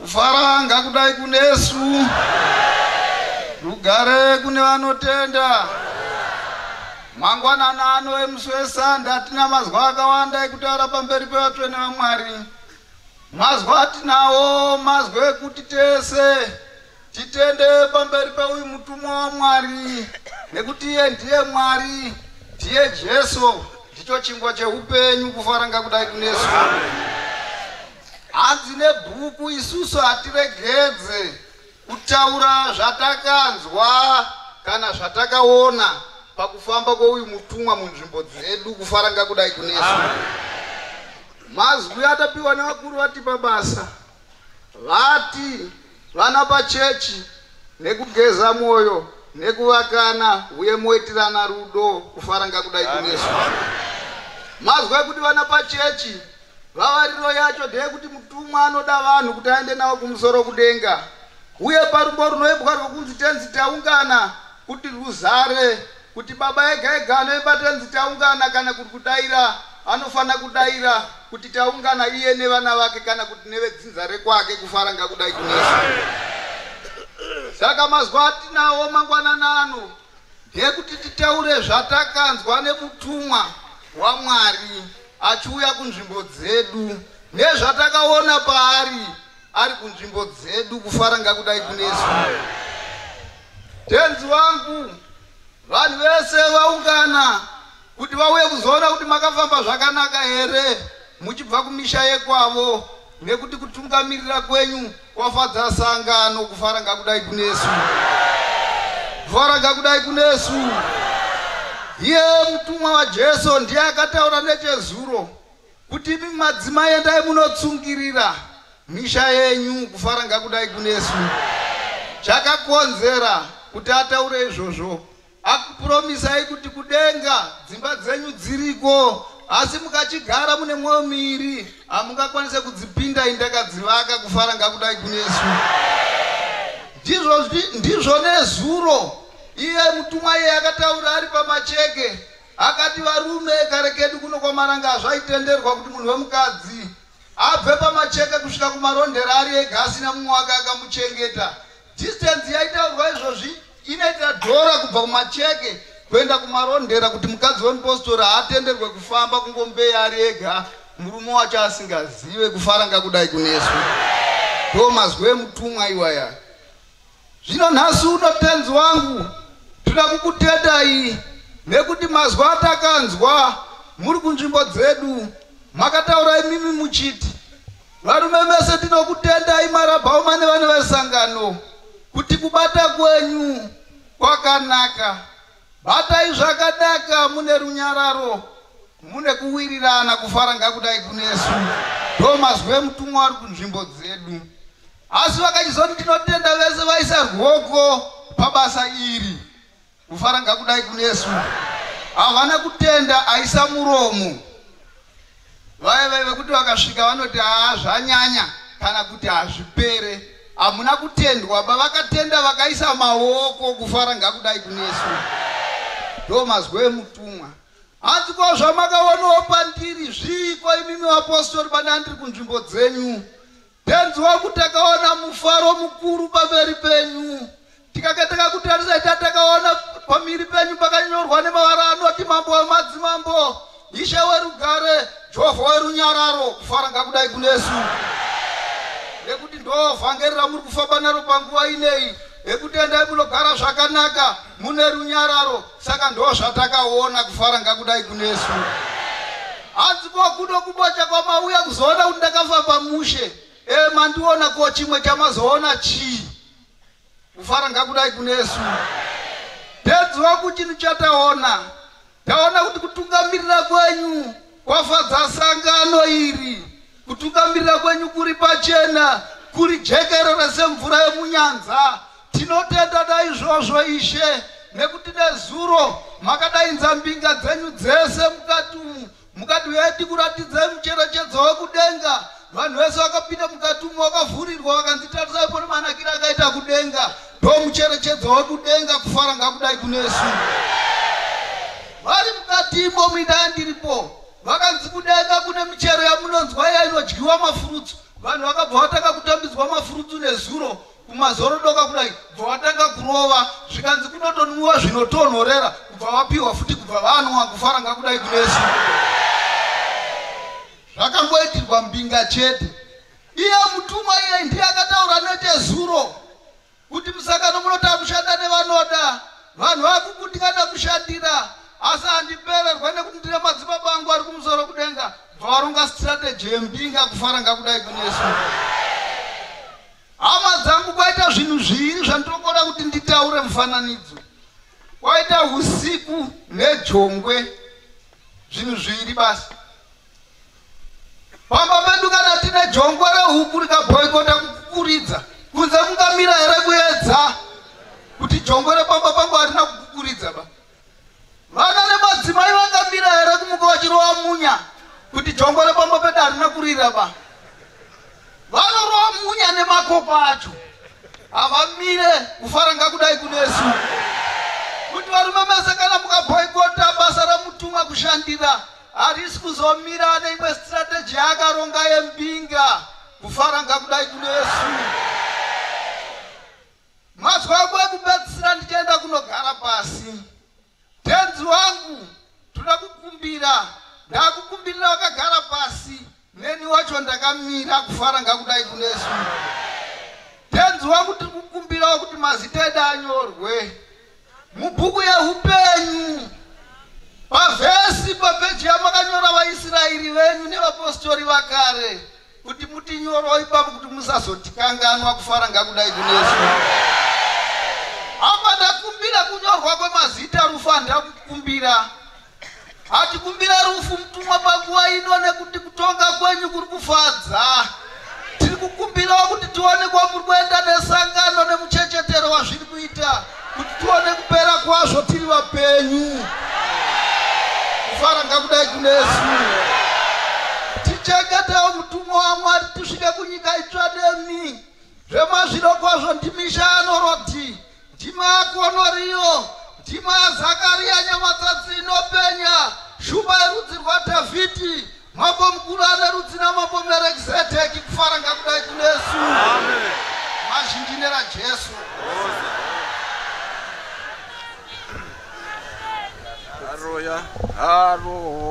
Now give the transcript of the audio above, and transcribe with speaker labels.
Speaker 1: Kufara
Speaker 2: ngakudai kunesu. Rugare kune vanotenda. Mangwanana ano emusi wesande atina mazwa akawanda ekutaura pamberi pevatsvene vaMwari. Mazwa atinawo mazwe ekuti tese Titende pamberi peuyu mutumwa waMwari nekuti iye ndiye Mwari, ndiye Jesu, ndicho chingwa cheupenyu kufara ngakudai kunesu. Hanzi nebhuku isusu hatiregedze kutaura zvatakanzwa kana zvatakaona pakufamba kweuyu mutumwa munzvimbo dzedu kufara ngakudai kunesu. Mazwi atapiwa nevakuru vatipa basa. Vati vana pachechi nekugeza mwoyo nekuvakana uye moitirana rudo kufara ngakudai kunesu. Mazwa kuti vana pachechi vavariro yacho ndeyekuti mutumwa anoda vanhu kuti aende navo kumusoro kudenga uye parumbo runoimbwa rwokunzi tenzi taungana kuti ruzare Kuti baba ega ega anoimba tenzi taungana kana kuti kudaira anofanira kudaira kuti taungana iye nevana vake kana kuti nevedzinza rekwake kufara ngakudai kunesa saka mazuva atinawo mangwanana ano ndekuti titaure zvatakanzwa nemutumwa wamwari achiuya kunzvimbo dzedu nezvatakaona paari ari kunzvimbo dzedu kufara ngakudai kunesu tenzi wangu vanhu vese vaungana kuti vauye kuzoona kuti makafamba zvakanaka here muchibva kumisha yekwavo nekuti kutungamirira kwenyu kwafadza sangano kufara ngakudai kunesu kufara ngakudai kunesu iye mutumwa wajesu ndiye akataura nechezuro Kuti imi madzimai endai munotsungirira misha yenyu kufara ngakudai kunesu. Chakakonzera kuti ataure izvozvo akupuromisai kuti kudenga dzimba dzenyu dziriko asi mukachigara mune mwoyo miiri hamungakwanise kudzipinda indakadzivaka kufara ngakudai kunesu. Ndizvo, ndizvo nezuro iye mutumwa iye akataura ari pamacheke Akati varume kare kedu kuno kwaMaranga zvaitenderwa kuti munhu wemukadzi abve pamacheke kusvika kumarondera ari ega asina mumwe wake akamuchengeta. Distance yaitaurwa izvozvi inoita dhora kubva kumacheke kuenda kumarondera kuti mukadzi wemupostori haatenderwe kufamba kungombeya ari ega murume wacho asingazive kufaranga kudai kunesu. Ndo mazwi emutumwa iwaya. Zvino nhasi uno tenzi wangu, tinoda kukutetai, nekuti mazwi atakanzwa muri kunzvimbo dzedu, makataura imimi muchiti, Varume mese tinokutendai marabhauma nevana vesangano, kuti kubata kwenyu kwakanaka. Batai zvakanaka mune runyararo, mune kuwirirana, kufara ngakudai kunesu. Ndomazwi emutumwa ari kunzvimbo dzedu. Asi vakachizoti tinotenda vese vaisa rwoko pabasa iri. Kufara ngakudai kunesu. Havana kutenda aisa muromo. Vaye vaye vekuti vakasvika vanoti haa zvanyanya kana kuti hazvipere. Hamuna kutendwa ba vakatenda vakaisa maoko kufara ngakudai kunesu. Ndo mazwi emutumwa. Hanzi ko zvamakaonawo pandiri zviiko imimi vapostori bana ndiri kunzvimbo dzenyu. Tenzi wangu takaona mufaro mukuru pamberi penyu. Tikakataka kutarisa ita takaona pamiri penyu pakanyorwa nemavara anoti mambo wemadzimambo, ishe werugare, Jehovha werunyararo. Kufara ngakudai kunesu. Nekuti ndoo vhangeri ramuri kufamba naro panguva ineyi, rekutendai munogara zvakanaka mune runyararo. saka ndozvatakaona kufara ngakudai kunesu hanzi kwakudo kubocha kwamauya kuzoona kuti ndakafa pamushe e mandiona ko chimwe chamazoona chii kufara ngakudai kunesu pedzi waku chinhu chataona taona kuti kutungamirira kwenyu Kwafadza sangano iri. Kutungamirira kwenyu kuri pachena, kuri jekerere semvura yemunyanza. Tinotenda naizvozvo Ishe, nekuti nezuro makadainza mbinga dzenyu dzese mukati umu, mukati vedu kuratidza mucherechedzo wekudenga Vanhu vese vakapinda mukati umo vakavhurirwa vakanzi tarisai pone manakira akaita kudenga ndo mucherechedzo wekudenga kufara ngakudai kunesu vari mukati imo muidaya ndiripo vakanzi kudenga kune michero yamunonzwa iya inodyiwa mafurutsu vanhu vakabva vatanga kutambidzwa mafurutsu nezuro kumazorodoka kudai bva vatanga kurova zvikanzi kunotonwiwa zvinotonhorera kubva vapiwa futi kubva vanwa kufara ngakudai kunesu Zvakangoitirwa mbinga chete. Iye mutumwa iye ndiye akataura nechezuro kuti musangano munoda kushanda nevanoda vanhu vakukundikana kushandira asi handipererwe nekuti ndine madzibaba angu ari kumusoro kudenga bvavarunga strategy yembinga kufara ngakudai kunesu hama dzangu kwaita zvinhu zviiri zvandinokoda kuti nditaure mufananidzo kwaita usiku nejongwe Zvinhu zviri basi. Pamba pedu kana tine jongwe rehuku rikaboikota kukukuridza, kunze kungamira here kuedza kuti jongwe repamba pangu harina kukukuridza ba? Vana nemadzimai vangamira here kumuka vachirova munya kuti jongwe repamba pedu harina kurira ba? Vanorova munya nemakopa acho havamire kufara ngakudai kunesu kuti varume mese kana mukabhoikota basa ramutumwa kushandira harisi kuzomira ane imwe strategy yaakaronga yembinga kufara ngakudai kunesu mazwa kwe kupedzisira ndichienda kunogara pasi Tenzi wangu toda kukumbira ndakukumbirira wakagara pasi neni wacho ndakamira kufara ngakudai kunesu tenzi wangu tiri kukumbirawo kuti mazita edu anyorwe mubhuku yeupenyu pavhesi papeji yamakanyora vaisraeri venyu nevapostori vakare kuti mutinyoro ipapo kuti musazotikanganwa kufara ngakudai kunesu apa ndakumbira kunyorwa kwemazita rufu handakukumbira hatikumbira rufu mutumwa panguva ino nekuti kutonga kwenyu kuri kufadza tiri kukumbirawo kuti tionekwa muri kuenda nesangano nemuchechetero wazviri kuita kuti tione kupera kwazvo tiri vapenyu kufara ngakudai kunesu tichengetewo mutumwa wamwari tisvike kunyika itsva nemi zvemazviro kwazvo ndimisha anoroti ndimakonoriyo ndima zakariya nyamatsatsi inopenya shumba yerudzi rwadhavhidhi Mambo mukuru ane rudzina mambo Merekizedheki kufara ngakudai kunesu. Amen. Mazhinji nera Jesu.
Speaker 3: Aroya. Aro.